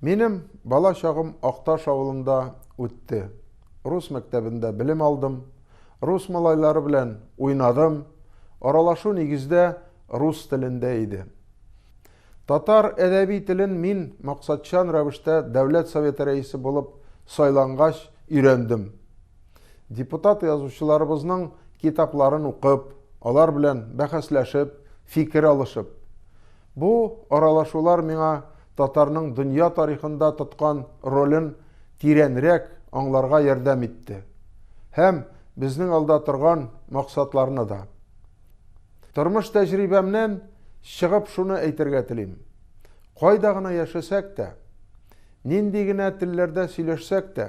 Минем бала чагым Акташ авылында үтте. Рус мәктәбендә белем алдым. Рус малайлары белән уйнадым. Аралашу нигездә рус телендә иде. Татар әдәби телен мин максатчан рәвештә Дәүләт Советы рәисе булып сайлангач өйрәндем. Депутат язучыларыбызның китапларын укып, алар белән бәхәсләшеп, фикер алышып. Бу аралашулар миңа татарның дөнья тарихында тоткан ролен тирәнрәк аңларга ярдәм итте һәм безнең алда торган максатларны да. Тормыш тәҗрибәмнән чыгып шуны әйтергә телим. Кайда гына яшәсәк тә, нинди генә телләрдә сөйләшсәк тә,